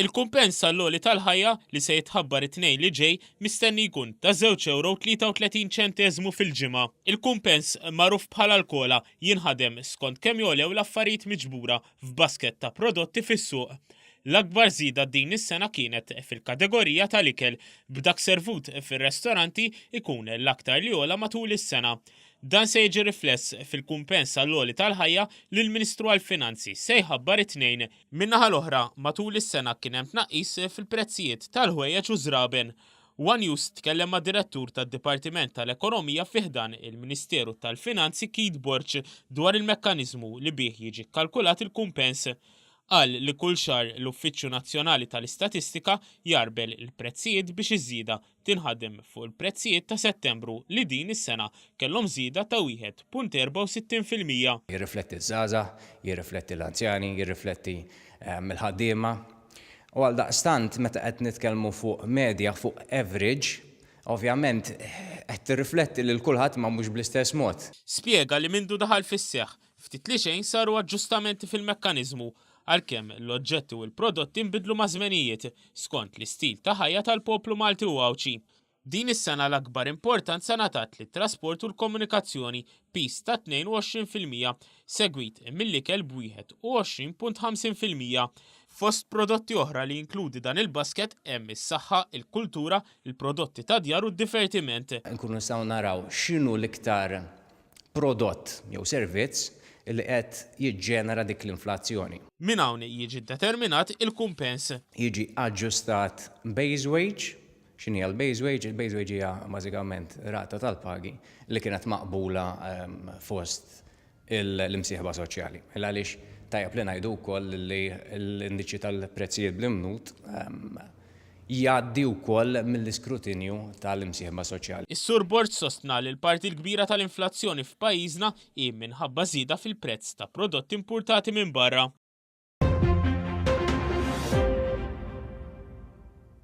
Il-kumpens għall-għoli tal-ħajja li se jitħabbar it-tnejn li ġej mistenni jkun ta' 2 euro 33 ċenteżmu fil-ġimgħa. Il-kumpens magħruf bħala l-kola jinħadem skont kemm jogħlew l-affarijiet miġbura f'basket ta' prodotti fis-suq. L-akbar żieda din is-sena kienet fil-kategorija tal-ikel, b'dak servut fir-restoranti ikun l-aktar li għola matul is-sena. Dan se jiġi rifless fil-kumpens għall-għoli tal-ħajja li l-Ministru għall-Finanzi se jħabbar it-Tnejn. Min-naħa l-oħra, matul is-sena kien hemm tnaqqis fil-prezzijiet tal-ħwejjeġ u ż-żraben. One News tkellem mad-Direttur tad-Dipartiment tal-Ekonomija fi ħdan il-Ministeru tal-Finanzi Keith Borg dwar il-mekkaniżmu li bih jiġi kkalkulat il-kumpens. Qal li kull xahar l-Uffiċċju Nazzjonali tal-Istatistika jgħarbel il-prezzijiet biex iż-żieda tinħadem fuq il-prezzijiet ta' Settembru li din is-sena kellhom żieda ta' 1.64 fil-mija. Jirrifletti ż-żgħażagħ, jirrifletti l-anzjani, jirrifletti l-ħaddiema. U għaldaqstant meta qed nitkellmu fuq medja, fuq average, ovvjament qed tirrifletti lil kulħadd imma mhux bl-istess mod. Spjega li mindu daħal fis-seħħ Ftit li xejn saru aġġustamenti fil-mekkaniżmu għalkemm l-oġġetti u l-prodotti nbidlu maż-żmenijiet skont l-istil ta' ħajja tal-poplu Malti u Għawdxi. Din is-sena l-akbar importanza ngħatat lit-trasport u l-komunikazzjoni, piż ta' 22 fil-mija, segwit mill-ikel b'21.50 fil-mija. Fost prodotti oħra li jinkludi dan il-basket hemm is-saħħa, il-kultura, il-prodotti tad-djar u d-divertiment. Inkunu nistgħu naraw x'inhu l-iktar prodott jew servizz li qed jiġġenera dik l-inflazzjoni. Minn hawn jiġi ddeterminat il-kumpens. Jiġi aġġustat base wage. X'inhi l-base wage? Il-base wage hija bażikament rata tal-pagi li kienet maqbula fost l-imsieħba soċjali. Għaliex tajjeb li ngħidu wkoll li l-indiċi tal-prezzijiet bl-imnut jgħaddi wkoll mill-iskrutinju tal-imsieħba soċjali. Is-Sur Borg sostna li l-parti l-kbira tal-inflazzjoni f'pajjiżna hi minħabba żieda fil-prezz ta' prodotti impurtati minn barra.